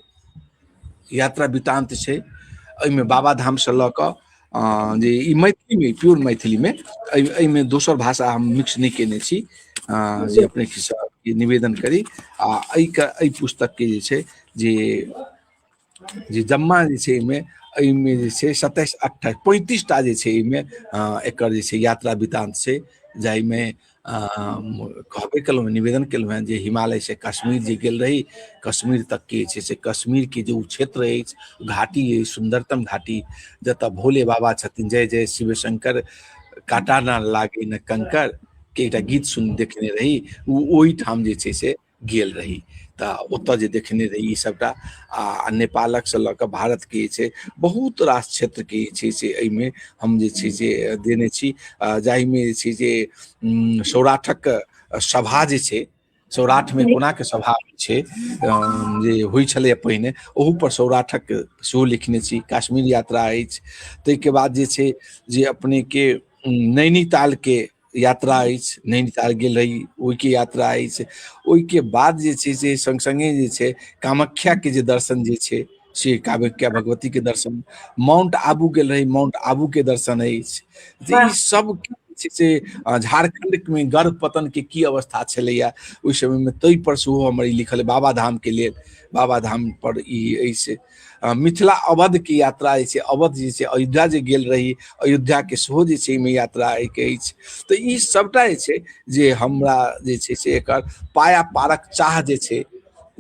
यात्रा वृतान्त छै एहिमे बाबाधामसँ लऽ कऽ जे ई मैथिलीमे प्योर मैथिलीमे एहिमे दोसर भाषा हम मिक्स नहि केने छी जे अपने निवेदन करी आ एहिके एहि पुस्तकके जे छै जे जे जम्मा जे छै एहिमे एहिमे जे छै सत्ताइस अट्ठाइस पैंतीस टा जे छै एहिमे एकर जे छै यात्रा वृतान्त छै जाहिमे कहबे केलहुँ निवेदन केलहुँ हेँ जे हिमालय से कश्मीर जे गेल रही कश्मीर तक के छै से कश्मीर के जे ओ क्षेत्र अछि घाटी अछि सुन्दरतम घाटी जतऽ भोले बाबा छथिन जय जय शिव शंकर काटा न लागे न कंकर के एकटा गीत सुन देखने रही ओ ओहिठाम जे छै से गेल रही तऽ ओतऽ जे देखने रही ई सभटा आ नेपालक से लऽ कऽ भारत के जे छै बहुत रास क्षेत्र के जे छै से एहिमे हम जे छै से देने छी आ जाहिमे जे छै जे उम, सौराठक सभा जे छै सौराठमे कोनाके सभा होइ छै अम, जे होइ छलैए पहिने ओहू पर सौराठक सेहो लिखने छी काश्मीर यात्रा अछि ताहिके बाद जे छै जे अपनेके उम, नैनीतालके यात्रा अछि नैनीताल गेल रही ओहिके यात्रा अछि ओहिके बाद जे छै से संग संगे जे छै कामाख्याके जे दर्शन जे छै से कामाख्या भगवतीके दर्शन माउंट आबू गेल रही माउंट आबूके दर्शन अछि तऽ ई सब छै से झारखण्डमे गर्भ पतनके की अवस्था छलैया ओहि समयमे ताहि पर सेहो हमर ई लिखल बाबा धामके लेल बाबा धाम पर ई अछि अ, मिथिला अवध के यात्रा जे छै अवध जे छै अयोध्या जे गेल रही अयोध्या के सेहो जे छै एहिमे यात्रा एहिके अछि तऽ ई सभटा जे छै जे हमरा जे छै से एकर पाया पारक चाह जे छै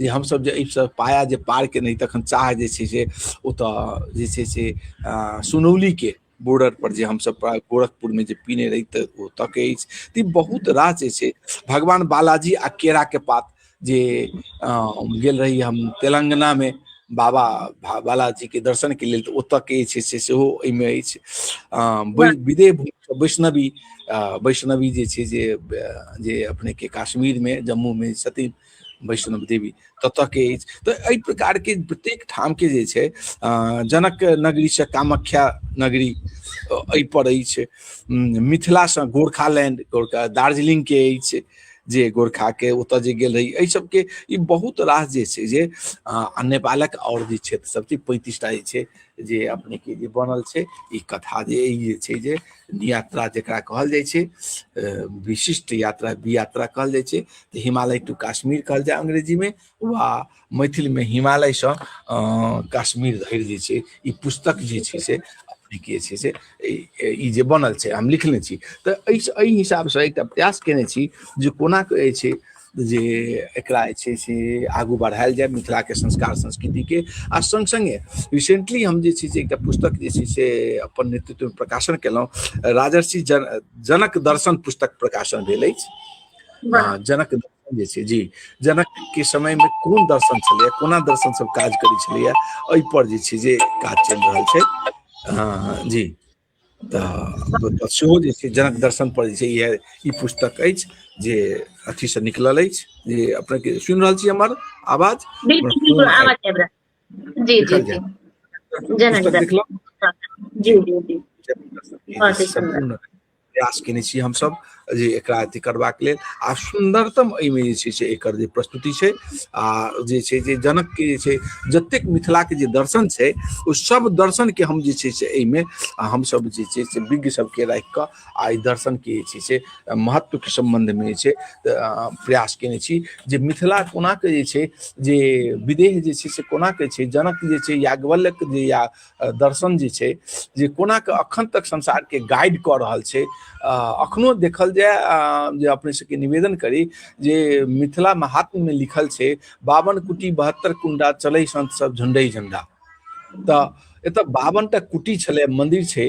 जे हमसभ जे एहिसँ पाया जे पार केने रही तखन चाह जे छै से ओतऽ जे छै से अ, सुनौलीके बॉर्डर पर जे हमसब गोरखपुर में जे पीने रही तऽ ओतऽ के अछि तऽ ई बहुत रास जे छै भगवान बालाजी आ केरा के पात जे गेल रही हम तेलंगाना में बाबा बालाजी के दर्शन के लेल तऽ ओतऽ के छै से सेहो एहिमे अछि विदेह वैष्णवी वैष्णवी जे छै जे जे अपने के काश्मीर में जम्मू में छथिन वैष्णव देवी ततऽ के अछि तऽ एहि प्रकार के प्रत्येक ठाम के जे छै अ, जनक नगरी से कामाख्या नगरी अ, एहि पर अछि उम, मिथिला से गोरखालैंड गोरखा दार्जिलिंग के अछि जे गोरखा के ओतऽ जे गेल रही एहि सबके ई बहुत रास जे छै जे अ, आ नेपालक आओर जे क्षेत्र सब छै पैंतीसटा जे छै जे अपने के जे बनल छै ई कथा जे ई जे छै जे यात्रा जकरा कहल जाइ छै विशिष्ट यात्रा बी यात्रा कहल जाइ छै तऽ हिमालय टू काश्मीर कहल जाय अंग्रेजीमे वा मैथिलमे हिमालयसँ काश्मीर धरि जे छै ई पुस्तक जे छै से के छै से ई जे बनल छै हम लिखने छी तऽ एहि एहि हिसाबसँ एकटा प्रयास केने छी जे कोना कहै छै जे एकरा जे छै से आगू बढ़ायल जाय मिथिला के संस्कार संस्कृति के आ संग संगे रिसेंटली हम जे छै से एकटा पुस्तक जे छै से अपन नेतृत्व में प्रकाशन केलहुँ राजर्षि जन जनक दर्शन पुस्तक प्रकाशन भेल अछि वाह जनक दर्शन जे छै जी जनक के समय में कोन दर्शन छलैए कोना दर्शन सब काज करै छलैए एहि पर जे छै जे काज चलि रहल छै हँ जी तऽ सेहो जे छै जनक दर्शन पर जे छै इएह ई पुस्तक अछि जे अथी से निकलल अछि जे अपने के सुनि रहल छी हमर आवाज जी जी जी जनक दर्शन जी जी जी प्रयास केने छी हमसब जे एकरा अथी करबाक लेल आ सुन्दरतम एहिमे जे छै से एकर जे प्रस्तुति छै आ जे छै जे जनकके जे छै जतेक मिथिलाके जे दर्शन छै ओ सब दर्शनके हम जे छै से एहिमे हमसब जे छै से विज्ञ सबके राखि कऽ आ एहि दर्शनके जे छै से महत्वके सम्बन्धमे जे छै प्रयास केने छी जे मिथिला कोनाके जे छै जे विदेह जे छै से कोनाके छै जनक जे छै याज्ञवल्यक जे या दर्शन जे छै जे कोना के अखन तक संसार के गाइड कऽ रहल छै अखनो देखल जाय जे अपने सबके निवेदन करी जे मिथिला महात्म में लिखल छै बावन कुटी बहत्तर कुंडा चले संत सब झंडे झंडा तऽ एतऽ बावनटा कुटी छलै मंदिर छै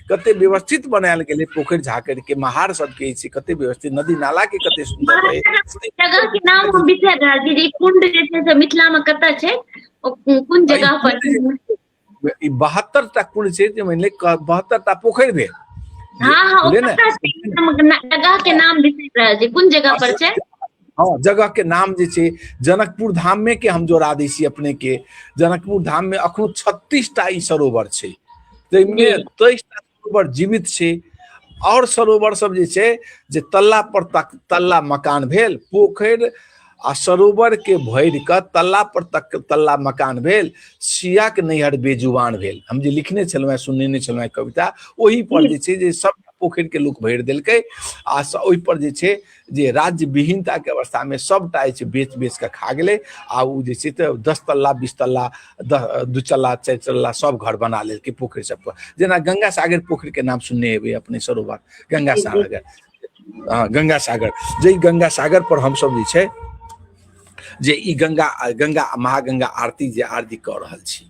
कते व्यवस्थित बनायल गेलै पोखरि झाकड़ि के महार सबके छै कते व्यवस्थित नदी नाला के कते सुन्दर रहै जगह के नाम हम बिसरि रहल छी जे कुंड जे छै से मिथिला में कतऽ छै कोन जगह पर ई बहत्तर टा कुंड छै जे मानि ले बहत्तर टा पोखरि भेल हाँ हाँ जगह के नाम बिसरि रहल छी कोन जगह पर छै हाँ जगह के नाम जे छै जनकपुर धाम में के हम जोड़ा दै छी अपने के जनकपुर धाम में अखनो छत्तीस टा ई सरोवर छै ताहिमे जी। तेईस टा सरोवर जीवित छै आओर सरोवर सब जे छै जे तल्ला पर तक तल्ला मकान भेल पोखरि आ सरोवर के भरि कऽ तल्ला पर तक तल्ला मकान भेल सिया के नैहर बेजुबान भेल हम जे लिखने छलहुँ हेँ सुनेने छलहुँ हेँ कविता ओहि पर जे छै जे सब पोखरि के लोक भरि देलकै आ स- ओहि पर जे छै जे राज्य विहीनता के अवस्था में सबटा जे बेच बेच के खा गए आ ओ जे छै तऽ दस तल्ला बीस तल्ला दू चल्ला चारि चल्ला सब घर बना लेलकै पोखरि सब पर जेना गंगा सागर पोखरि के नाम सुनने हेबै अपने सरोवर गंगा सागर हँ गंगा सागर जे गंगा सागर पर हमसब जे छै जे ई गंगा गंगा महागंगा आरती जे आरती कऽ रहल छी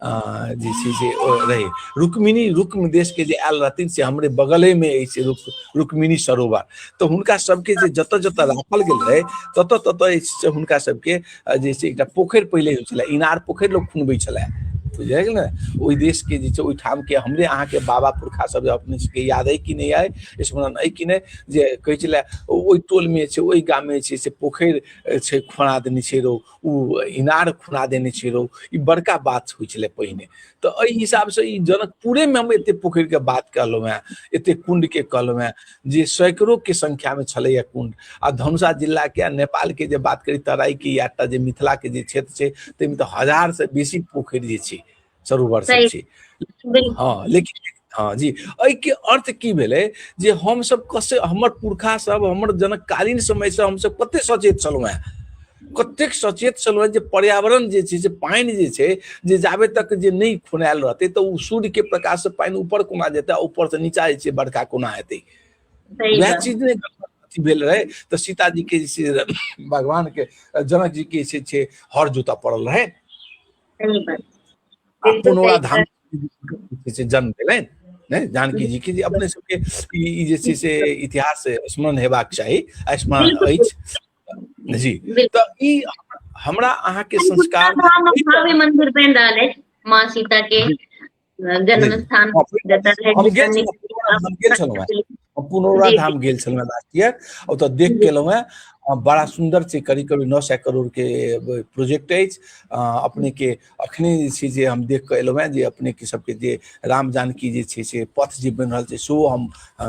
जे छै से रहै रुक्मिणी रुक्म देशके जे आयल रहथिन से हमरे बगलेमे अछि रुक रुक्मिणी सरोवर तऽ हुनका सबके जे जतऽ जतऽ राखल गेल रहै ततऽ ततऽ जे छै से हुनका सबके जे छै एकटा पोखरि पहिले होइ छलै इनार पोखरि लोक खुनबै छलै बुझलियै ने ओहि देशके जे छै ओहिठामके हमरे अहाँके बाबा पुरखा सब अपने सबके याद अइ कि नहि अइ स्मरण अइ कि नहि जे कहै छलै ओहि टोलमे छै ओहि गाममे छै से पोखरि छै खुना देने छै रौ ओ इनार खुना देने छै रौ ई बड़का बात होइ छलै पहिने तऽ एहि हिसाबसँ ई जनकपुरेमे हम एतेक पोखरिके बात कहलहुँ हेँ एतेक कुण्डके कहलहुँ हेँ जे सैकड़ोके सङ्ख्यामे छलैए कुण्ड आ धनुषा जिलाके आ नेपालके जे बात करी तराईके या जे मिथिलाके जे क्षेत्र छै ताहिमे तऽ हजारसँ बेसी पोखरि जे छै चरू वर्ष सही। छी बिल्कुल हँ लेकिन हँ जी एहिके अर्थ की भेलै जे हमसभ कसे हमर पुरखा सब हमर जनकालीन समय से हमसभ कते सचेत छलहुँ हेँ कतेक सचेत छलहुँ हेँ जे पर्यावरण जे छै से पानि जे छै जे जाबे तक जे नहि खुनायल रहतै तऽ ओ सूर्यके प्रकाशसँ पानि ऊपर कोना जेतै आ ऊपरसँ नीचा जे छै बरखा कोना हेतै सही वएह बात चीज ने अथी भेल रहै तऽ सीताजी के जे छै भगवान के जनक जी के जे छै हर जोता पड़ल रहै पुनौरा धाम से जन्म भेलनि ने जानकी जी के जे अपने सबके ई जे छै से इतिहास स्मरण हेबाक चाही आ स्मरण अछि जी तऽ ई हमरा अहाँके संस्कार धाम भव्य मंदिर बनि रहल अछि माँ सीता के जन्म स्थान हम गेल छलहुँ हम पुनौरा धाम गेल छलहुँ लास्ट ईयर ओतऽ देख के एलहुँ हेँ बड़ा सुन्दर छै करीब करीब नओ सए करोड़के प्रोजेक्ट अछि अपनेके अखने जे छै जे हम देख कऽ एलहुँ हेँ जे अपनेके सभके जे राम जानकी जे छै से पथ जे बनि रहल छै सेहो हम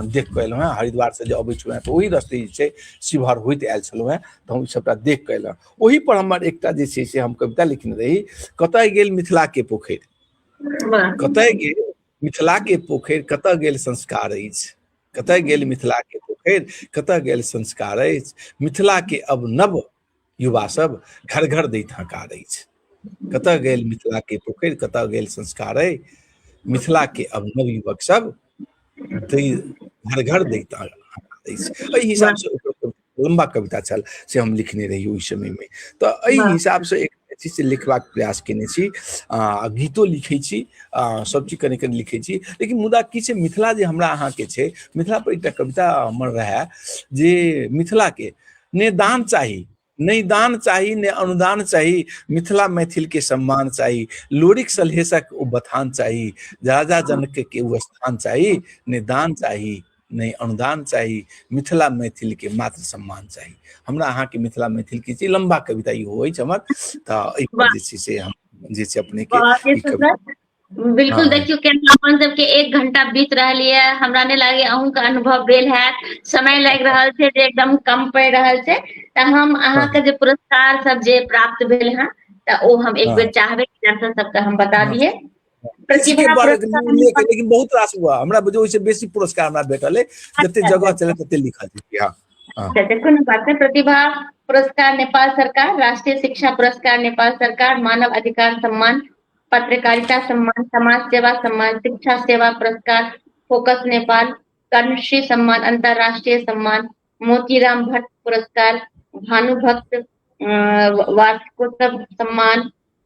देख कऽ एलहुँ हेँ हरिद्वारसँ जे अबै छलहुँ हेँ तऽ ओहि रस्ते जे छै शिवहर होइत आयल छलहुँ हेँ तऽ हम सभटा देख कऽ एलहुँ ओहिपर हमर एकटा जे छै से हम कविता लिखने रही कतय गेल मिथिलाके पोखरि कतय गेल मिथिला के पोखरि कतय गेल संस्कार अछि कतय गेल मिथिला के पोखरि कतय गेल संस्कार अछि मिथिला के अब नव युवा सब घर घर दैत हकार अछि कतय गेल मिथिला के पोखरि कतय गेल संस्कार अछि मिथिला के अब नव युवक सब घर घर दैत हकार अछि एहि हिसाब से लम्बा कविता छल से हम लिखने रही ओहि समय में तो एहि हिसाब से एक छी से लिखबाक प्रयास केने छी आ गीतो लिखै छी आ सब चीज कने कने लिखै छी लेकिन मुदा की छै मिथिला जे हमरा अहाँके छै मिथिला पर एकटा कविता हमर रहए जे मिथिलाके ने दान चाही नहि दान चाही ने अनुदान चाही मिथिला मैथिल के सम्मान चाही लोरिक सलहेसक ओ बथान चाही राजा जनक के ओ स्थान चाही ने दान चाही नहि अनुदान चाही मिथिला मैथिलके मात्र सम्मान चाही हमरा अहाँके मिथिला मैथिलके जे लम्बा कविता ई होइ छै हमर तऽ एहिपर जे छै से हम जे छै अपनेके बिल्कुल हाँ। देखियो केना अपन सबके एक घंटा बीत रहा है हमरा नहीं लगे अहूँ का अनुभव भेल है समय लग रहा है जे एकदम कम पड़ रहा है तो हम अहाँ हाँ। के जे पुरस्कार सब जे प्राप्त भेल है तो वो हम एक हाँ। बेर चाहबे दर्शक सबके हम बता दिए लेकिन बहुत रास हुआ हमरा बुझे ओहिसे बेसी पुरस्कार हमरा भेटल है जते अच्छा, जगह अच्छा। चले तते लिखल छै हां हाँ। अच्छा, देखो ना बात है प्रतिभा पुरस्कार नेपाल सरकार राष्ट्रीय शिक्षा पुरस्कार नेपाल सरकार मानव अधिकार सम्मान पत्रकारिता सम्मान समाज सेवा सम्मान शिक्षा सेवा पुरस्कार फोकस नेपाल कर्मश्री सम्मान अंतर्राष्ट्रीय सम्मान मोतीराम भट्ट पुरस्कार भानुभक्त वार्षिकोत्सव सम्मान